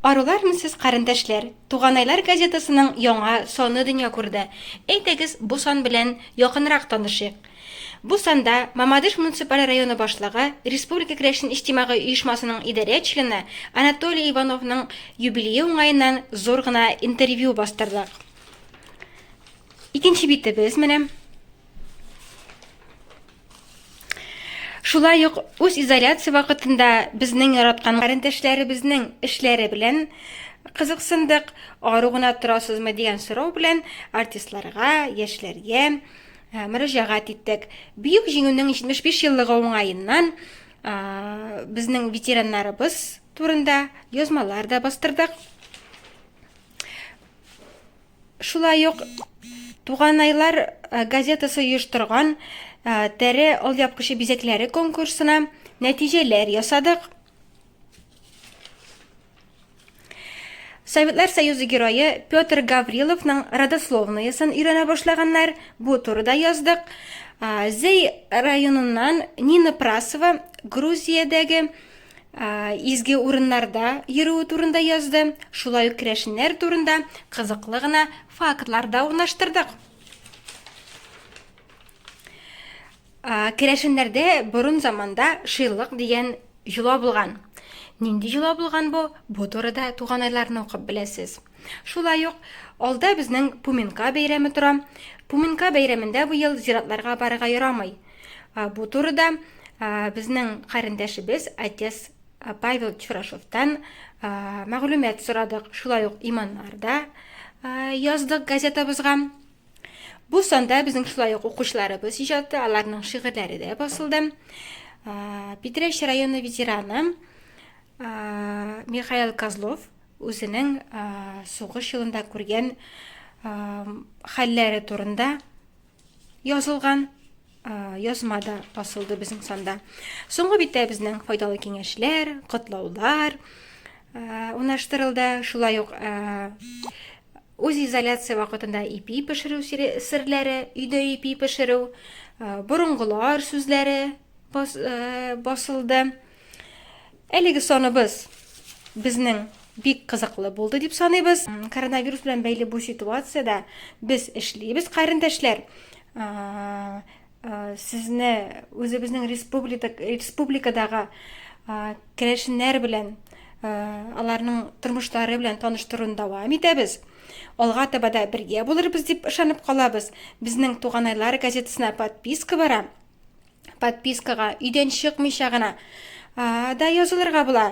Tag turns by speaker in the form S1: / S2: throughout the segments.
S1: Арулармы сез, карендәшләр? Туганайлар газетасының яңа саны дөнья күрде. Әйдәгез, бу сан белән якынрак танышыйк. Бу санда Мамадыш муниципаль районы башлыгы, Республика керәшен иҗтимагый оешмасының идарә члены Анатолий Ивановның юбилее уңаеннан зур гына интервью бастырдык. Икенче битебез менә. Шулай ук үз изоляция вакытында безнең яраткан карендәшләребезнең эшләре белән кызыксындык. Ару гына торасызмы дигән сорау белән артистларга, яшьләргә э, мөрәҗәгать иттек. Бөек җиңүнең 75 еллыгы уңаеннан э, безнең ветераннарыбыз турында язмалар да бастырдык. Шулай ук Туганайлар э, газетасы оештырган э, тәре алъяпкычы бизәкләре конкурсына нәтиҗәләр ясадык. Советлар Союзы герое Петр Гавриловның родословноесын өйрәнә башлаганнар. Бу турыда яздык. Зей районыннан Нина Прасова Грузиядәге изге урыннарда йөрүе турында язды. Шулай ук керәшеннәр турында кызыклы гына фактлар да урнаштырдык. Керәшеннәрдә борын заманда шыйлык дигән йола булган. Нинди йола булган бу? Бу турыда туганайларны укып беләсез. Шулай ук, алда безнең Пуменка бәйрәме тора. Пуменка бәйрәмендә бу ел зиратларга барырга ярамый. Бу турыда безнең карендәшебез, отец Павел Чурашовтан мәгълүмат сорадык. Шулай ук иманнар да яздык газетабызга. Бу санда безнең шулай ук укучыларыбыз иҗаты, аларның шигырьләре дә басылды. Питрәч районы ветераны Михаил Козлов Үзенең сугыш елында күргән хәлләре турында язылган язма да басылды безнең санда. Соңгы биттә безнең файдалы киңәшләр, котлаулар унаштырылды. Шулай ук үз изоляция вакытында ипи пешерү серләре, өйдә ипи пешерү, борынгылар сүзләре басылды. Әлеге саныбыз безнең бик кызыклы булды дип саныйбыз. Коронавирус белән бәйле бу ситуациядә без эшлибез, карендәшләр. Сезне үзебезнең республикадагы керәшеннәр белән аларның тормышлары белән таныштыруны дәвам итәбез. Алга таба да бергә булырбыз дип ышанып калабыз. Безнең Туганайлар газетасына подписка бара. подпискага өйдән чыкмыйча гына да язылырга була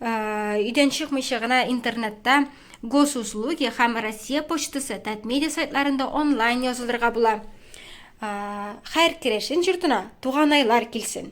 S1: өйдән чыкмыйча гына интернетта госуслуги һәм россия почтасы татмедиа сайтларында онлайн язылырга була һәр керәшен жортына туганайлар килсен